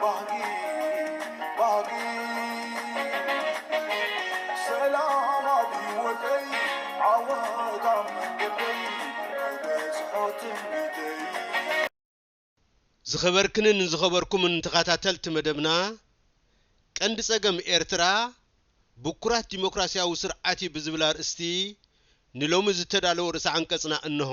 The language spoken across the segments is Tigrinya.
ባህጊ ባህጊ ሰላም ኣብ ሂወተይ ዓወት ኣብ መንገደይ ክበጽሖ ትምኒተይ ዝኸበርክንን ዝኸበርኩምን ተኻታተልቲ መደብና፣ ቀንዲ ጸገም ኤርትራ ብኩራት ዲሞክራሲያዊ ስርዓት'ዩ ብዝብል ኣርእስቲ ንሎሚ ዝተዳለወ ርእሰ-ዓንቀጽና እነሆ።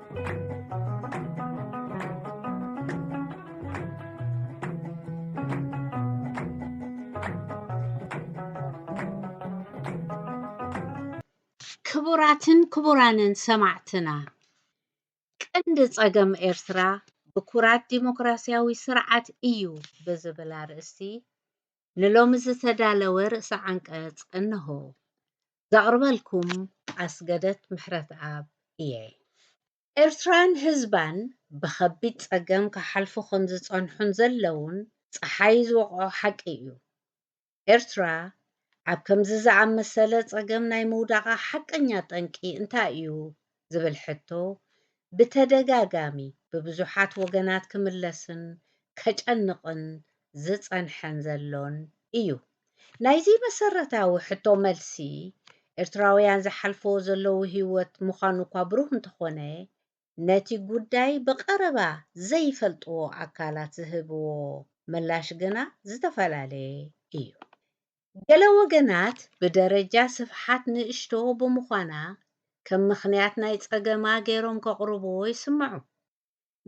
ክቡራትን ክቡራንን ሰማዕትና ቀንዲ ጸገም ኤርትራ ብኩራት ዲሞክራስያዊ ስርዓት እዩ ብዝብል ኣርእስቲ ንሎሚ ዝተዳለወ ርእሰ ዓንቀጽ እነሆ። ዘቕርበልኩም ኣስገደት ምሕረትኣብ እየ። ኤርትራን ህዝባን ብኸቢድ ጸገም ክሓልፉ ከም ዝጸንሑን ዘለዉን ጸሓይ ዝወቕዖ ሓቂ እዩ። ኤርትራ ኣብ ከምዚ ዝኣመሰለ ጸገም ናይ ምውዳቓ ሓቀኛ ጠንቂ እንታይ እዩ ዝብል ሕቶ ብተደጋጋሚ ብብዙሓት ወገናት ክምለስን ከጨንቕን ዝጸንሐን ዘሎን እዩ። ናይዚ መሰረታዊ ሕቶ መልሲ ኤርትራውያን ዝሓልፍዎ ዘለዉ ህይወት ምዃኑ'ኳ ብሩህ እንተኾነ ነቲ ጉዳይ ብቐረባ ዘይፈልጥዎ ኣካላት ዝህብዎ ምላሽ ግና ዝተፈላለየ እዩ። ገለ ወገናት ብደረጃ ስፍሓት ንእሽቶ ብምዃና ከም ምኽንያት ናይ ጸገማ ገይሮም ከቕርቡዎ ይስምዑ።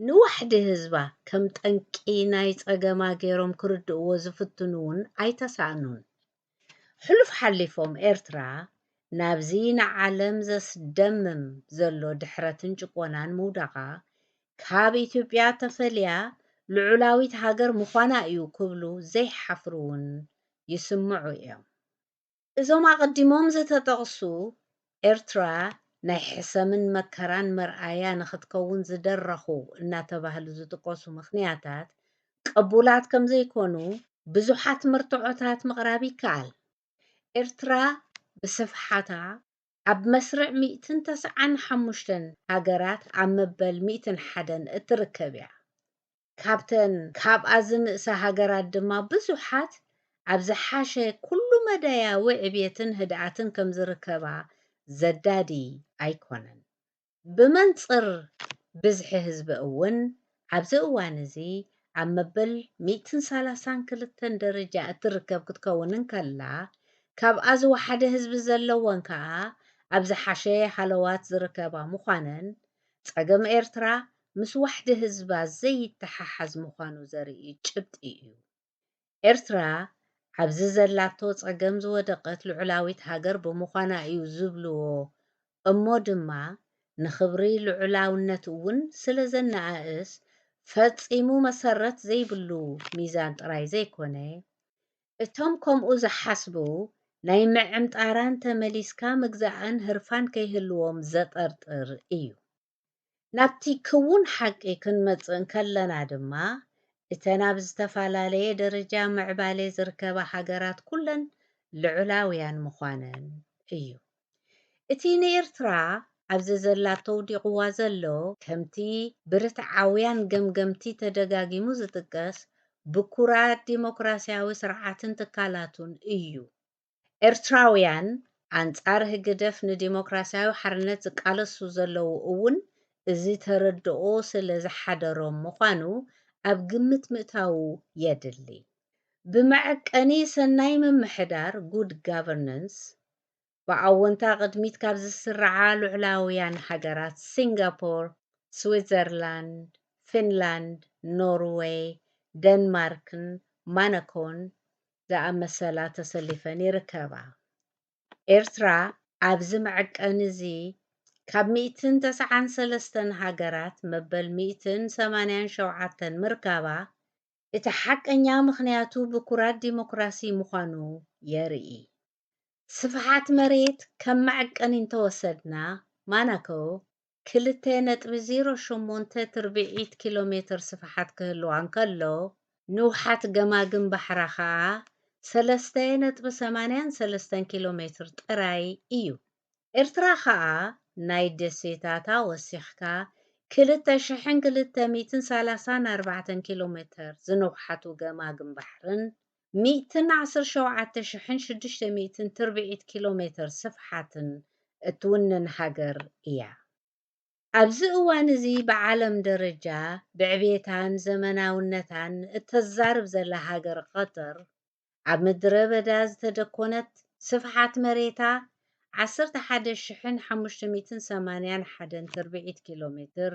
ንዋሕዲ ህዝባ ከም ጠንቂ ናይ ጸገማ ገይሮም ክርድኡዎ ዝፍትኑ'ውን ኣይተሳእኑን። ሕሉፍ ሓሊፎም ኤርትራ ናብዚ ንዓለም ዘስደምም ዘሎ ድሕረትን ጭቆናን ምውዳቓ ካብ ኢትዮጵያ ተፈልያ ልዑላዊት ሃገር ምዃና እዩ ክብሉ ዘይሓፍሩ እውን ይስምዑ እዮም። እዞም ኣቐዲሞም ዝተጠቕሱ፣ ኤርትራ ናይ ሕሰምን መከራን መርኣያ ንክትከውን ዝደረኹ እናተባህሉ ዝጥቀሱ ምኽንያታት ቅቡላት ከምዘይኮኑ ብዙሓት መርትዖታት ምቕራብ ይከኣል። ኤርትራ ብስፍሓታ፣ ኣብ መስርዕ ሚእትን ተስዓን ሓሙሽተን ሃገራት ኣብ መበል ሚእትን ሓደን እትርከብ እያ። ካብተን ካብኣ ዝንእሳ ሃገራት ድማ ብዙሓት ኣብ ዝሓሸ ኩሉ-መዳያዊ ዕብየትን ህድኣትን ከም ዝርከባ ዘዳዲ ኣይኮነን። ብመንጽር ብዝሒ ህዝቢ እውን ኣብዚ እዋን እዚ ኣብ መበል ሚእትን ሰላሳን ክልተን ደረጃ እትርከብ ክትከውን እንከላ፣ ካብኣ ዝወሓደ ህዝቢ ዘለወን ከኣ ኣብ ዝሓሸ ሃለዋት ዝርከባ ምዃነን፣ ጸገም ኤርትራ ምስ ዋሕዲ ህዝባ ዘይተሓሓዝ ምዃኑ ዘርኢ ጭብጢ እዩ። ኤርትራ ኣብዚ ዘላቶ ጸገም ዝወደቐት ልዑላዊት ሃገር ብምዃና እዩ ዝብልዎ እሞ ድማ ንኽብሪ ልዑላውነት እውን ስለ ዘነኣእስ ፈጺሙ መሰረት ዘይብሉ ሚዛን ጥራይ ዘይኮነ እቶም ከምኡ ዝሓስቡ ናይ ምዕምጣራን ተመሊስካ ምግዛእን ህርፋን ከይህልዎም ዘጠርጥር እዩ። ናብቲ ክዉን ሓቂ ክንመጽእ እንከለና ድማ፣ እተን ኣብ ዝተፈላለየ ደረጃ ምዕባሌ ዝርከባ ሃገራት ኩለን ልዑላውያን ምዃነን እዩ። እቲ ንኤርትራ ኣብ ዘዘላቶ ኣውዲቕዋ ዘሎ፣ ከምቲ ብርትዓውያን ገምገምቲ ተደጋጊሙ ዝጥቀስ፣ ብኩራት ዲሞክራስያዊ ስርዓትን ትካላቱን እዩ። ኤርትራውያን ኣንጻር ህግደፍ ንዲሞክራስያዊ ሓርነት ዝቃለሱ ዘለዉ እውን እዚ ተረድኦ ስለ ዝሓደሮም ምዃኑ ኣብ ግምት ምእታዉ የድሊ። ብመዐቀኒ ሰናይ ምምሕዳር፣ Good Governance፣ ብኣዎንታ ቅድሚት ካብ ዝስርዓ ልዑላውያን ሃገራት ሲንጋፖር፣ ስዊትዘርላንድ፣ ፊንላንድ፣ ኖርወይ፣ ደንማርክን ማነኮን ዝኣመሰላ ተሰሊፈን ይርከባ። ኤርትራ ኣብዚ መዐቀኒ እዚ ካብ ሚእትን ተሰዓን ሰለስተን ሃገራት መበል ሚእትን ሰማንያን ሸውዓተን ምርካባ፣ እቲ ሓቀኛ ምኽንያቱ ብኩራት ዲሞክራሲ ምዃኑ የርኢ። ስፍሓት መሬት ከም መዐቀኒ እንተወሰድና፣ ማናከው ክልተ ነጥቢ ዜሮ ሸሞንተ ትርብዒት ኪሎ ሜተር ስፍሓት ክህልዋ እንከሎ፣ ንውሓት ገማግም ባሕራ ከኣ ሰለስተ ነጥቢ ሰማንያን ሰለስተን ኪሎ ሜትር ጥራይ እዩ። ኤርትራ ከኣ ናይ ደሴታታ ወሲኽካ ክልተ ሽሕን ክልተ ሚእትን ሰላሳን ኣርባዕተን ኪሎ ሜተር ዝንውሓቱ ገማግም ባሕርን ሚእትን ዓሰርተ ሸውዓተ ሽሕን ሽዱሽተ ሚእትን ትርብዒት ኪሎ ሜተር ስፍሓትን እትውንን ሃገር እያ። ኣብዚ እዋን እዚ ብዓለም ደረጃ ብዕብየታን ዘመናውነታን እተዛርብ ዘላ ሃገር ቐጠር፣ ኣብ ምድረ በዳ ዝተደኮነት፣ ስፍሓት መሬታ ዓሰርተ ሓደ ሽሕን ሓሙሽተ ሚእትን ሰማንያን ሓደን ትርብዒት ኪሎ ሜትር፣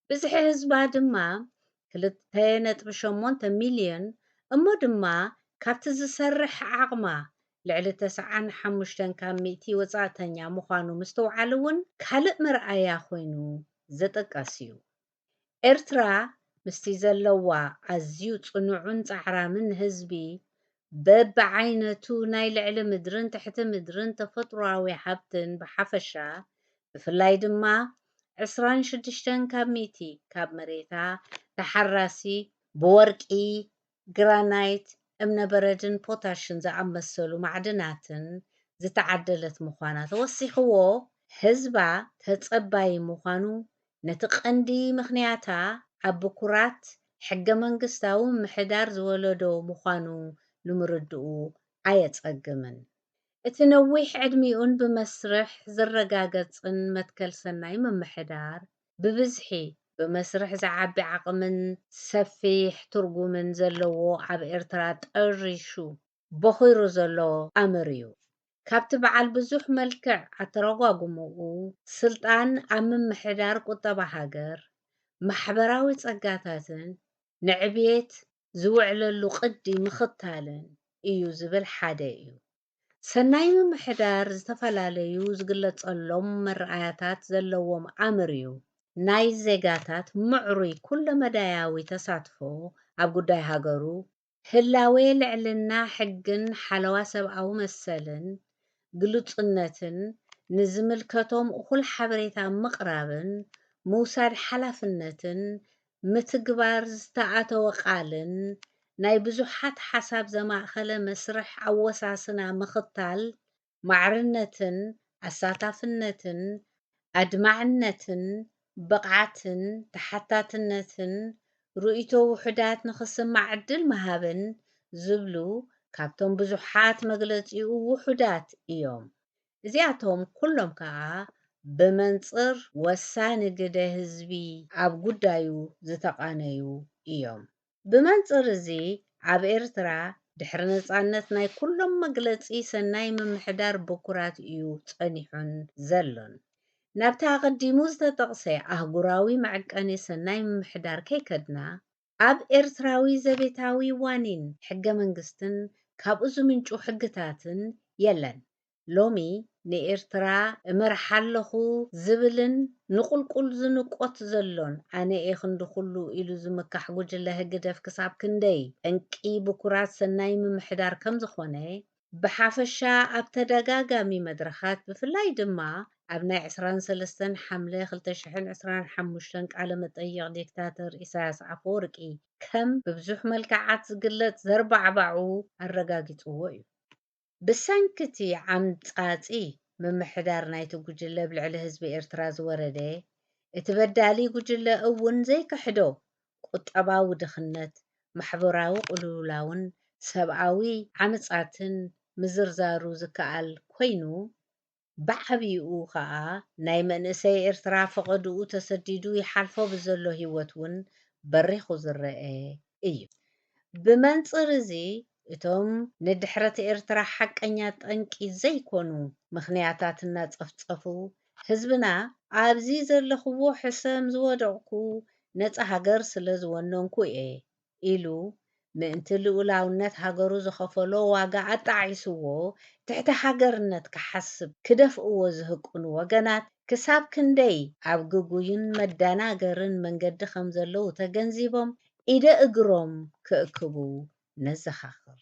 ብዝሒ ህዝባ ድማ ክልተ ነጥቢ ሸሞንተ ሚልዮን እሞ ድማ ካብቲ ዝሰርሕ ዓቕማ ልዕሊ ተሰዓን ሓሙሽተን ካብ ሚእቲ ወጻእተኛ ምዃኑ ምስትውዓል'ውን ካልእ መርኣያ ኮይኑ ዝጥቀስ'ዩ። ኤርትራ ምስቲ ዘለዋ ኣዝዩ ጽኑዕን ጻዕራምን ህዝቢ በብዓይነቱ ናይ ልዕሊ ምድርን ትሕቲ ምድርን ተፈጥሮኣዊ ሃብትን ብሓፈሻ፣ ብፍላይ ድማ ዕስራን ሽዱሽተን ካብ ሚእቲ ካብ መሬታ ተሓራሲ፣ ብወርቂ፣ ግራናይት፣ እምነ በረድን ፖታሽን ዝኣመሰሉ ማዕድናትን ዝተዓደለት ምዃና ተወሲኽዎ፣ ህዝባ ተፀባዪ ምዃኑ ነቲ ቀንዲ ምኽንያታ ኣብ ብኩራት ሕገመንግስታዊ ምምሕዳር ዝወለዶ ምዃኑ ንምርድኡ ኣየጸግምን። እቲ ነዊሕ ዕድሚኡን ብመስርሕ ዝረጋገጽን መትከል ሰናይ ምምሕዳር፣ ብብዝሒ፣ ብመስርሕ ዝዓቢ ዓቕምን ሰፊሕ ትርጉምን ዘለዎ ኣብ ኤርትራ ጠሪሹ፣ ቦኺሩ ዘሎ ኣምር እዩ። ካብቲ በዓል ብዙሕ መልክዕ ኣተረጓጉምኡ፣ ስልጣን ኣብ ምምሕዳር ቁጠባ ሃገር፣ ማሕበራዊ ጸጋታትን ንዕብየት ዝውዕለሉ ቅዲ ምኽታልን እዩ ዝብል ሓደ እዩ። ሰናይ ምምሕዳር ዝተፈላለዩ ዝግለጸሎም መረኣያታት ዘለዎም ኣምር እዩ። ናይ ዜጋታት ምዕሩይ ኩለመዳያዊ ተሳትፎ ኣብ ጉዳይ ሃገሩ፣ ህላዌ ልዕልና ሕግን ሓለዋ ሰብኣዊ መሰልን ግሉጽነትን ንዝምልከቶም እኹል ሓበሬታ ምቕራብን ምውሳድ ሓላፍነትን ምትግባር ዝተኣተወ ቃልን ናይ ብዙሓት ሓሳብ ዘማእኸለ መስርሕ ኣወሳስና ምኽታል ማዕርነትን ኣሳታፍነትን ኣድማዕነትን ብቕዓትን ተሓታትነትን ርእይቶ ውሑዳት ንኽስማዕ ዕድል ምሃብን ዝብሉ ካብቶም ብዙሓት መግለጺኡ ውሑዳት እዮም። እዚኣቶም ኩሎም ከኣ ብመንጽር ወሳኒ ግደ ህዝቢ ኣብ ጉዳዩ ዝተቓነዩ እዮም። ብመንጽር እዚ ኣብ ኤርትራ ድሕሪ ነጻነት ናይ ኩሎም መግለጺ ሰናይ ምምሕዳር ብኩራት እዩ ጸኒሑን ዘሎን። ናብቲ ኣቐዲሙ ዝተጠቕሰ ኣህጉራዊ መዕቀኒ ሰናይ ምምሕዳር ከይከድና፣ ኣብ ኤርትራዊ ዘቤታዊ ዋኒን ሕገ መንግስትን ካብኡ ዝምንጩ ሕግታትን የለን። ሎሚ ንኤርትራ እመርሓ ኣለኹ ዝብልን ንቑልቁል ዝንቆት ዘሎን ኣነ'የ ክንዲ ኩሉ ኢሉ ዝምካሕ ጉጅለ ህግደፍ ክሳብ ክንደይ ጠንቂ ብኩራት ሰናይ ምምሕዳር ከም ዝኾነ ብሓፈሻ ኣብ ተደጋጋሚ መድረኻት ብፍላይ ድማ ኣብ ናይ ዕስራን ሰለስተን ሓምለ ክልተ ሽሕን ዕስራን ሓሙሽተን ቃለ መጠይቕ ዲክታተር ኢሳያስ ኣፈወርቂ ከም ብብዙሕ መልክዓት ዝግለጽ ዘርባዕባዑ ኣረጋጊጽዎ እዩ። ብሰንኪ እቲ ዓምጻጺ ምምሕዳር ናይቲ ጉጅለ ኣብ ልዕሊ ህዝቢ ኤርትራ ዝወረደ፣ እቲ በዳሊ ጉጅለ እውን ዘይክሕዶ ቁጠባዊ ድኽነት፣ ማሕበራዊ ቅልውላውን ሰብኣዊ ዓመጻትን ምዝርዛሩ ዝከኣል ኮይኑ፣ ብዓብይኡ ከኣ ናይ መንእሰይ ኤርትራ ፈቐድኡ ተሰዲዱ ይሓልፎ ብዘሎ ህይወት እውን በሪኹ ዝረኤ እዩ። ብመንጽር እዚ እቶም ንድሕረት ኤርትራ ሓቀኛ ጠንቂ ዘይኮኑ ምኽንያታት እናጸፍጸፉ ህዝብና ኣብዚ ዘለኹዎ ሕሰም ዝወደቕኩ ነጻ ሃገር ስለ ዝወነንኩ እየ ኢሉ ምእንቲ ልኡላውነት ሃገሩ ዝኸፈሎ ዋጋ ኣጣዒስዎ ትሕቲ ሃገርነት ክሓስብ ክደፍእዎ ዝህቅኑ ወገናት ክሳብ ክንደይ ኣብ ግጉይን መደናገርን መንገዲ ከም ዘለዉ ተገንዚቦም ኢደ እግሮም ክእክቡ ነዘኻኽር።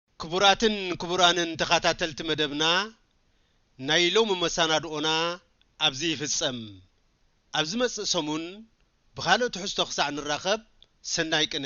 ክቡራትን ክቡራንን ተኻታተልቲ መደብና ናይ ሎሚ መሳናድኦና ኣብዚ ይፍጸም ኣብ ዝመጽእ ሰሙን ብኻልእ ትሕዝቶ ክሳዕ ንራኸብ ሰናይ ቅነ።